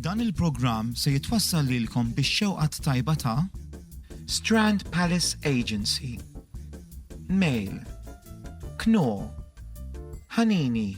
Dan il-programm se jitwassal lilkom bix-xewqat tajba ta' Strand Palace Agency, Mail, Knorr, Hanini,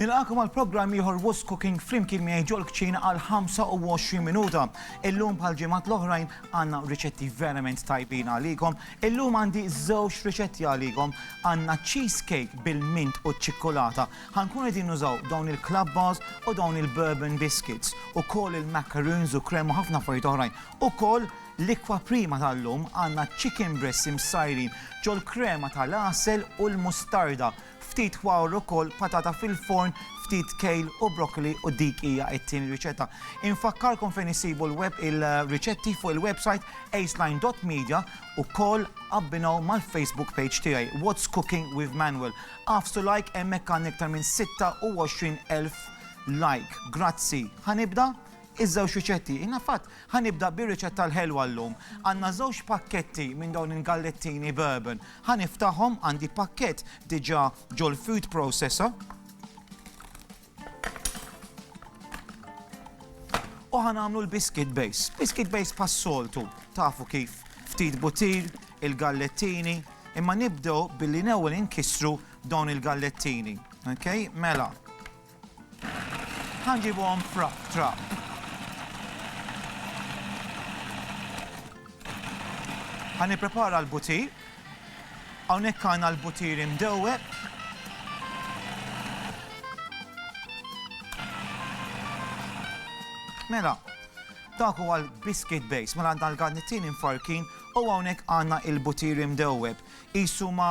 Nilqakom għal programm ieħor Who's Cooking flimkien miegħi ġol kċina għal 25 minuta. Illum bħal ġimgħat l-oħrajn għandna riċetti verament tajbin għalikom. Illum għandi żewġ riċetti għalikom. Għandna cheesecake bil-mint u ċ-ċikkulata. Ħankun qegħdin nużaw dawn il-club bars u dawn il-bourbon biscuits u koll il-macaroons u krem u ħafna affarijiet oħrajn. U koll L-Ikwa Prima tal-lum għandna chicken breasts imsajrin ġol-krema tal-għasel u l-mustarda, ftit wawr ukoll, patata fil-forn, ftit kale u broccoli u dik hija t-tieni riċetta. Infakkarkom fejn issibu l-web il-riċetti fuq il-website aceline dot media u koll abbinaw mal-Facebook page tiegħi What's Cooking with Manuel. Agħfsu like hemmhekk għandna iktar minn 26,000 like. Grazzi. Ħa nibda? Iż-żewġ riċetti. Jiena fatt ħa nibda bir-riċetta l-ħelwa llum. Għandna żewġ pakketti minn dawn il-gallettini bourbon. Ħa niftaħhom, għandi pakkett diġà ġol-food processor. U ħa nagħmlu l-biscuit base. Biscuit base pas-soltu, tafu kif. Ftit butir, il-gallettini, imma nibdew billi l-ewwel inkissru dawn il-gallettini. Okay? Mela, Ħa nġibuhom f'rab trab. Ħa nipprepara l-butir. Hawnhekk għandna l-butir imdewweb. Mela, dak huwa l-biscuit base, mela għandna l-garnittin infarkin u hawnhekk għandna il-butir imdewweb. Isu ma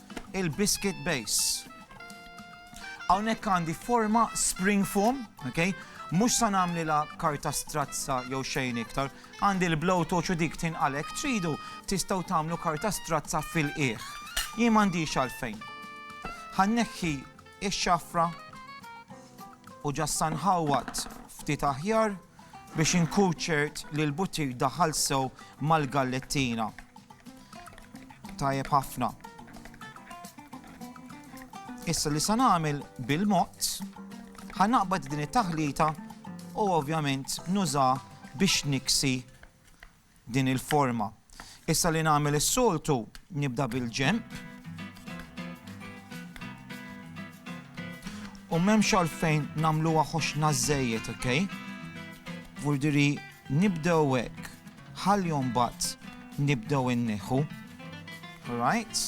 il-biscuit base. Hawnhekk għandi forma spring foam, okay? Mhux sa nagħmlilha karta strazza jew xejn iktar, għandi l-blow torch u dik tinqalek tridu tistgħu tagħmlu karta strazza fil-qiegħ. Jien m'għandix għalfejn. Ħanneħħi ix-xafra u ġassan ħawat ftit aħjar biex inkuċert li l-butir daħal sew mal-gallettina. Tajjeb ħafna. Issa li sa nagħmel bil-mod, ħanaqbad din it-taħlita u ovvjament nuża biex niksi din il-forma. Issa li nagħmel is-soltu nibda bil-ġemp. U m'hemmx għalfejn nagħmluha ħoxna żejjed, ok? Vurdiri nibdew hekk. Ħalli mbagħad nibdew inneħħu. Right.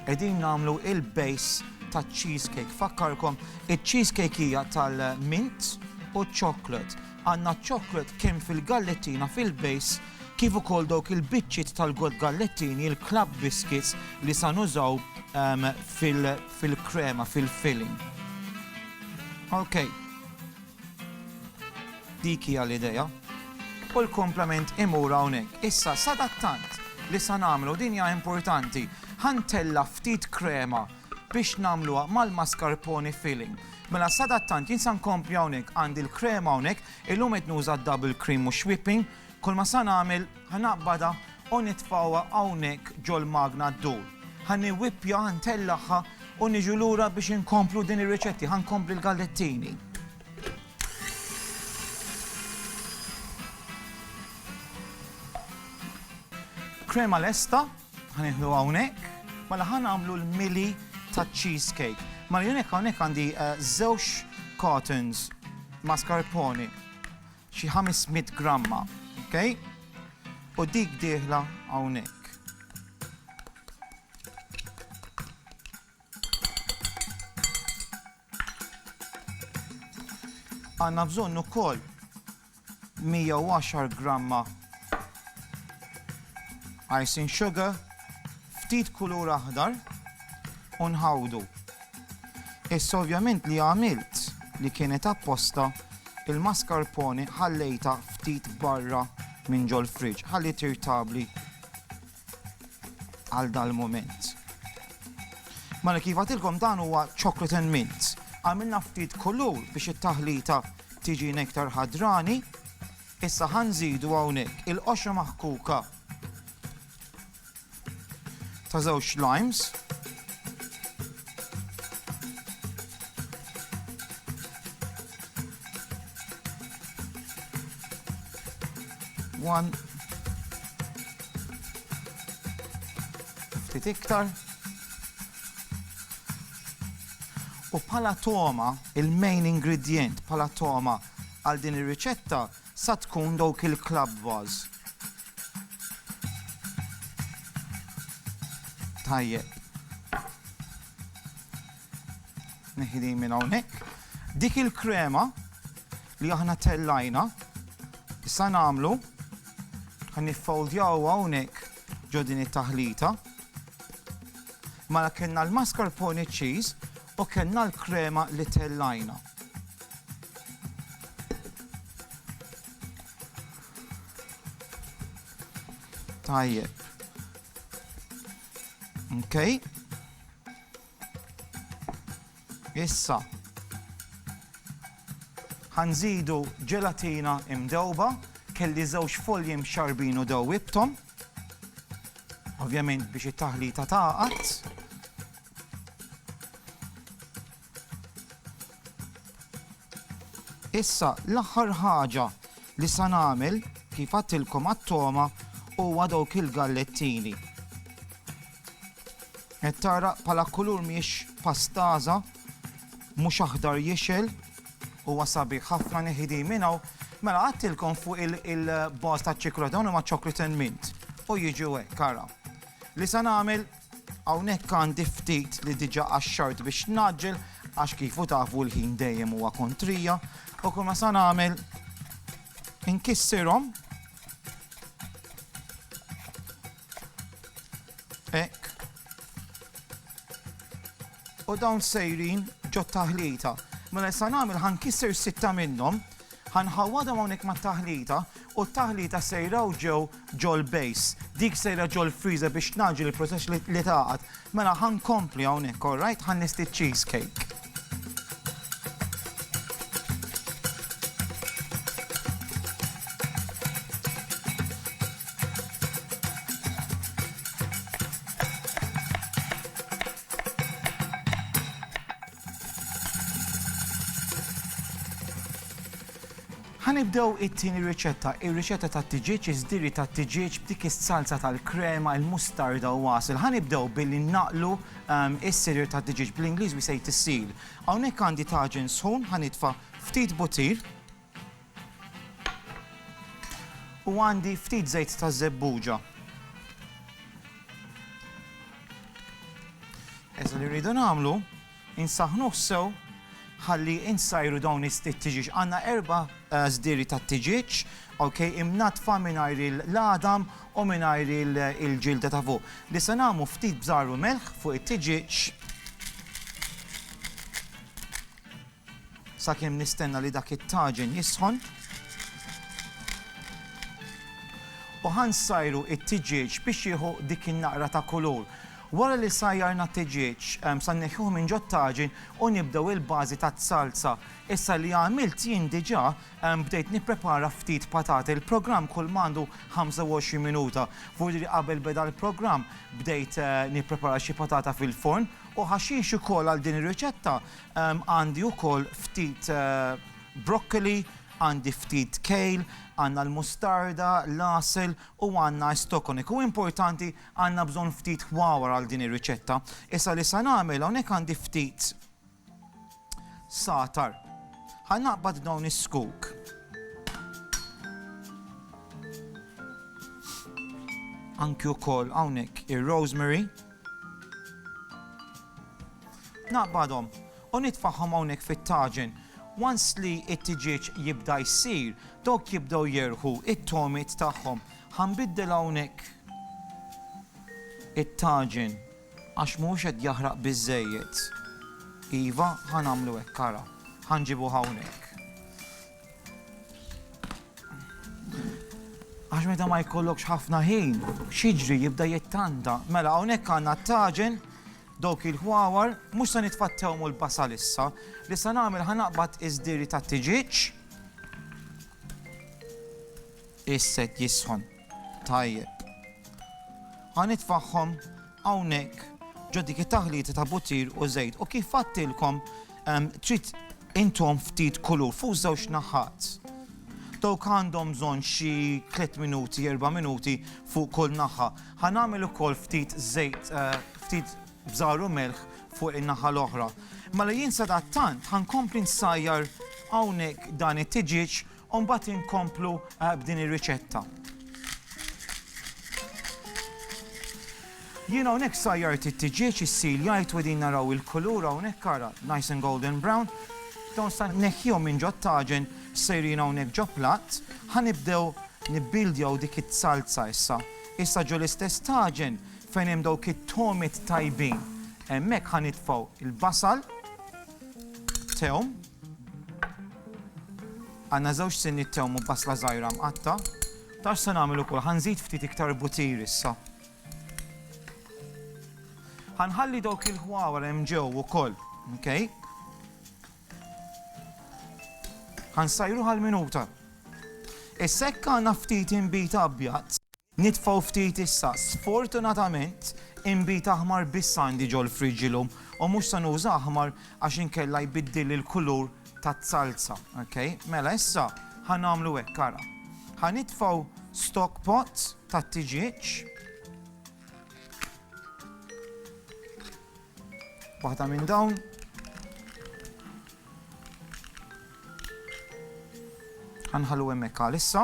Qegħdin nagħmlu il-base taċ-cheese cake. Fakkarkom, iċ-cheese cake hija tal-mint u ċ-chocolate. Għandna ċ-chocolate kemm fil-gallettina fil-base kif ukoll dawk il-biċċiet tal-god gallettini, il-club biscuits li sa nużaw ehm, fil-krema, fil-filling. Okay. Dik hija l-idea. U l-kumplament imur hawnhekk. Issa, sadattant li sa nagħmlu, din hija importanti, ħa ntella' ftit krema biex nagħmluha mal-mascarpone filling. Mela sadattant jien sa nkompli hawnhekk, għandi l-krema hawnhekk, illum qed nuża d-double cream mhux whipping, Kulma sa nagħmel, ħa naqbadha u nitfgħuha hawnhekk ġol-magna ddur. Ħa niwippja, ntellagħha u niġu lura biex inkomplu din ir-riċetti. Ħa nkompli l-gallettini. Krema lesta, ħa nieħdu hawnhekk, mela ħa nagħmlu l-mili ta' cheesecake. Mela jien hekk hawnhekk għandi żewġ cartons mascarpone. xi 500 gramma, ok? U dik dieħla hawnhekk. Għanna bżonn ukoll 110 gramma icing sugar, ftit kulur aħdar, unħawdu Issa ovvjament li għamilt li kienet apposta, il-mascarpone ħallejtha ftit barra minn ġol-fridge, ħalli tirtabli għal dal-mument. Mela kif għatilkom dan huwa chocolate and mint. Għamilna ftit kulur biex it-taħlita tiġi nektar ħadrani, issa ħanżidu hawnhekk il-qoxra maħkuka ta' żewġ limes. One. Ftit iktar. U bħala toma, il-main ingredient bħala toma għal din ir-riċetta Sa tkun dawk il-club bars. Tajjeb. Neħi din minn hawnhekk. Dik il-krema li aħna tellajna, issa nagħmlu ħan niffoldjaw hawnhekk ġo din it-taħlita. Mala kellna l-mascarpone cheese U kellna l-krema li tellajna. Tajjeb. Okay. Issa, ħanżidu ġelatina imdewba, kelli żewġ folji mxarbin u dewwibtom, ovvjament biex it-taħlita taqat. Issa, l-aħħar ħaġa li sa nagħmel, kif għadtilkom għat-togħma, huwa dawk il-gallettini. Qed tara bħala kulur mhijiex pastaża, mhux aħdar jixel, huwa sabiħ ħafna neħi din minn hawn, mela għadtilkom fuq il-baż taċ-ċikolata dawn huma chocolate and mint u jiġu hekk ara. Li sa nagħmel Hawnhekk għandi ftit li diġa qaxxart biex ngħaġġel għax kif u tafu l-ħin dejjem huwa kontrija u kull ma sa nagħmel inkissirhom Ek. U dawn sejrin ġo taħlita. Mela sa nagħmel ħankisser sitta minnhom Ħa nħawwadhom hawnhekk mat-taħlita u t-taħlita sejra u ġew ġol base. Dik sejra ġol freezer biex tnaġġel il-proċess li tagħqad. Mela ħa nkompli hawnhekk, all right? Ħa nisti cheese cake. Ħa nibdew it-tieni riċetta, ir-riċetta tat-tiġieġ, iż-żdiri tat-tiġieġ b'dik is-salza tal-krema, il-mustarda u għasel. Ħa nibdew billi nnaqqlu s-sirir tat-tiġieġ, bl-Ingliż we say to seal. Hawnhekk għandi taġen sħun, ħa nitfa' ftit butir. U għandi ftit żejt ta' żebbuġa. Issa li rridu nagħmlu, insaħħnuh sew ħalli insajru dawn it-tiġieġ. Għandna erba' eh, żdieri tat-tiġieġ, ok, imnatfa mingħajr il-ladam u mingħajr il-ġilda ta' fuq. Li se nagħmlu ftit bżarru melħ fuq it-tiġieġ. Sakemm nistenna li dak it-taġen jisħon. U ħa nsajru t-tiġieġ biex jieħu dik in-naqra ta' kulur. Wara li sajjarna t-tiġieġ, sa nneħħuh minn ġot-taġen u nibdew il-bażi taz-zalza. Issa li għamilt jien diġà, bdejt nipprepara ftit patati. Il-programm kull ma għandu 25 minuta. Vurdiri qabel beda l-programm, bdejt nipprepara xi patata fil-forn u ħaxix ukoll għal din ir-riċetta Għandi ukoll ftit broccoli, għandi ftit kale, għandna l-mustarda, l-għasel u għandna estokonic. U importanti, għandna bżonn ftit ħwawar għal din ir-riċetta. Issa li sa nagħmel, hawnhekk għandi ftit sagħtar. Ħa naqbad dawn is-scoop. Anki wkoll hawnhekk ir-rosemary. Naqbadhom u nitfagħhom hawnhekk fit-taġen. Once li t-tiġieġ jibda jsir, dawk jibdew jerħu t-togħmiet tagħhom. Ħa nbiddel hawnhekk it-taġen għax mhuwiex qed jaħraq biżżejjed. Iva, ħa nagħmlu hekk ara. Ħa nġibuh hawnhekk. Għax meta ma jkollokx ħafna ħin, xiġri jibda jittanta. Mela hawnhekk għandna taġen dawk il-ħwawar, mhux se nitfattew mul basal issa, li se nagħmel ħanaqbad iż-diri ta' tiġiġ. Isset jisħon. Tajjeb. Ħanitfaħħom hawnhekk ġo dik it-taħlita ta' butir u żejt u kif għadtilkom trid intom ftit kulur fuq żewġ naħat. Dawk għandhom bżonn xi 3 minuti, 4 minuti fuq kull naħa. Ħa nagħmel ukoll ftit żejt, eh, ftit bżar u melħ fuq in-naħa l-oħra. Mela jien sadattant ħankompli nsajjar hawnhekk dan it-tiġieġ U mbagħad inkomplu eh, b'din ir-riċetta. Jien hawnhekk sajjart it-tiġieġ is-sil jgħid u din naraw il-kulur hawnhekk ara nice and golden brown. Dawn sa neħjom minn ġod taġen sejrin hawnhekk ġo platt, ħanibdew nibbildjaw dik it-salza issa. Issa ġo l-istess taġen fejn hemm dawk it-tomit tajbin. Hemmhekk ħanitfgħu il-basal, tewm, Għandna żewġ sinniet tewm u basla żgħira mqatta'. Taf x'se nagħmel ukoll? Ħa nżid ftit iktar butir issa. Ħa nħalli dawk il-ħwawar hemm ġew ukoll, okej? Ħa nsajruh għal minuta. Is-sekk għandna ftit inbid abjad. Nitfgħu ftit issa. Sfortunatament, inbid aħmar biss għandi ġol-fridge illum u mhux se nuża aħmar għax inkella jbiddilli l-kulur taz-zalza. Ok, mela issa ħa nagħmlu hekk, ara. Ħa nitfgħu stock pot tat-tiġieġ. Waħda minn dawn. Ħa nħallu hemmhekk għalissa.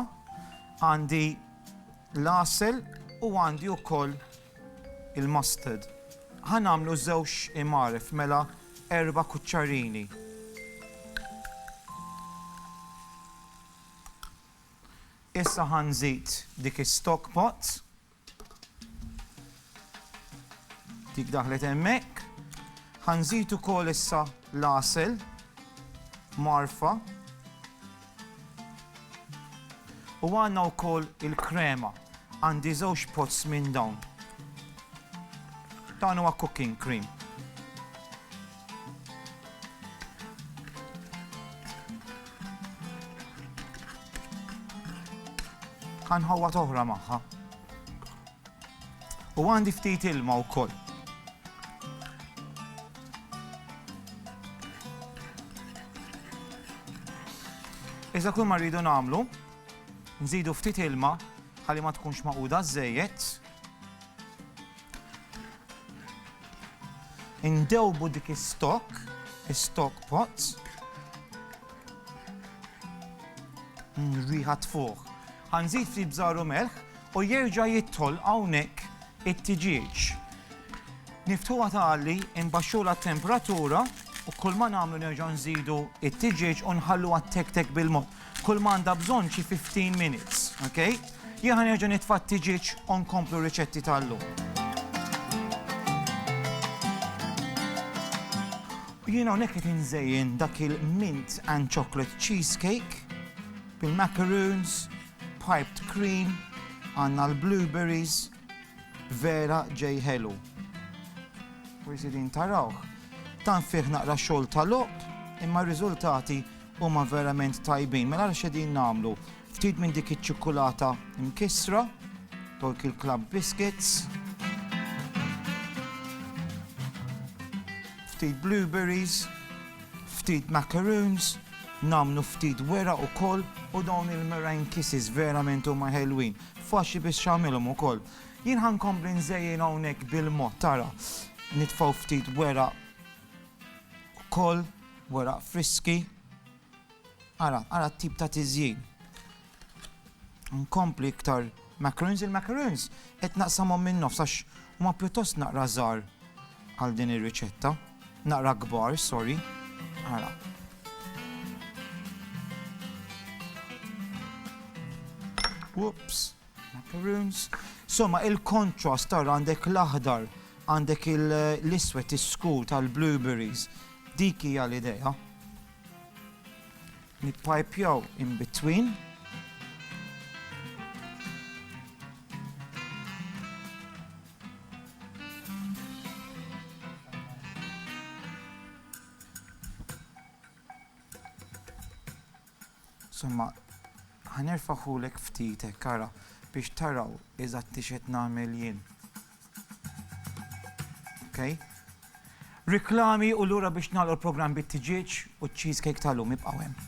Għandi l-għasel u għandi wkoll il-mustard. Ħa nagħmlu żewġ imaref mela erba' kuċċarini. Issa ħa nżid dik is-stock pot. Dik daħlet hemmhekk. Ħanżid ukoll issa l-għasel marfa. U għandna wkoll il-krema. Għandi żewġ pots minn dawn. Dan huwa cooking cream. Għanħawwa toħra maħħa. U għandi ftit ilma u koll. Iżda kull ma rridu namlu, nżidu ftit ilma ħalli ma tkunx maquda żejjed. Indewbu dik is-stock, is-stock pots. Mm, riħa tfuħ. Ħanżid ftit bżaru melħ u jerġa' jidħol hawnhekk it-tiġieġ. Niftuha tagħli, imbaxxula t-temperatura u kull ma nagħmlu nerġa' nżidu it-tiġieġ u nħallu għat-tek-tek bil-mob. Kull ma għandha bżonn xi fifteen minutes, ok? Jien ħa nerġa' nitfa' t-tiġieġ u nkomplu r-riċetti tal-lum. U jien hawnhekk qed inżejjen dak il-mint and chocolate cheesecake bil-macaroons, piped cream, għandna l-blueberries, vera ġej ħelu. Forsi din tarawh. Tant fih naqra xogħol ta' logħob, imma r-riżultati Huma verament tajbin, mela ara x'qegħdin nagħmlu. Ftit minn dik iċ-ċikkulata mkissra, Torquil Club Biscuits. Ftit blueberries, ftit macaroons, nagħmlu ftit wera ukoll u dawn il-meringue kisses verament huma ħelwin. Faċli biex x'għamilhom ukoll. Jien ħankompli nżejjin hawnhekk bil-mod tara. Nitfgħu ftit wera Ukoll weraq friski. Ara, ara t-tip ta' tiżjin. Nkompli iktar macaroons. Il-macaroons qed naqsamhom min-nofs għax huma pjuttost naqra żgħar għal din ir-riċetta. Naqra kbar, sorry. Ara. Whoops. Macaroons. Somma il-contrast tara għandek l-aħdar, għandek l-iswed is-skur tal-blueberries. Dik hija l-idea. Nippajpjaw in between. Somma, ħa nerfagħhulek ftit hekk ara biex taraw eżatti x'qed nagħmel jien. Ok? Riklami u lura biex nagħlqu l-programm bit-tiġieġ u ċ-cheesecake tal-lum ibqgħu hemm.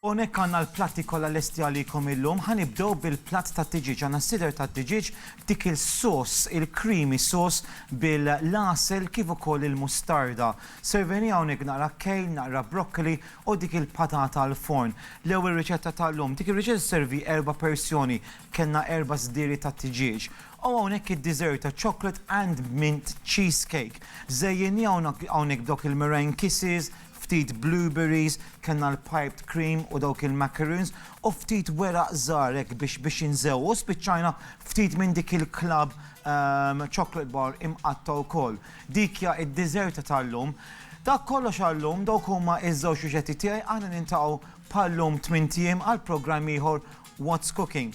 Hawnhekk għandna l-platti kollha lesti għalikom illum. Ħa nibdew bil-platt tat-tiġieġ. Għandna s-sider tat-tiġieġ b'dik il-sauce, il-creamy sauce bil-l-għasel kif ukoll il-mustarda. Servejni hawnhekk naqra kejl, naqra broccoli u dik il-patata għall-forn. L-ewwel riċetta tal-lum. Dik ir-riċetta sservi erba' persjoni. Kellna erba' sdiri tat-tiġieġ. U hawnhekk id-dessert ta' chocolate and mint cheesecake. Żejjinniha hawnhekk b'dawk il-meringue kisses, ftit blueberries, kellna l-piped cream u dawk il-macaroons, u ftit weraq żgħar hekk biex biex inżewwqu, u spiċċajna ftit minn dik il-club chocolate bar imqatta' wkoll. Dik hija d-diżerta tal-lum. Dak kollox għal-lum, dawk huma ż-żewġ riċetti tiegħi, aħna niltaqgħu bħal-lum tmint ijiem għal programm ieħor What's Cooking.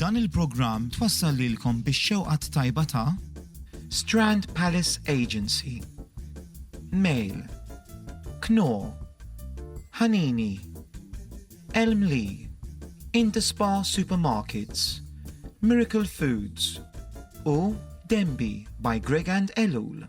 Dan il-programm twassal lilkom bix-xewqa t-tajba ta' Strand Palace Agency, Mail, Knorr, Ħanini, Elm Lee, Indispa Supermarkets, Miracle Foods u Denby by Greg and Elul.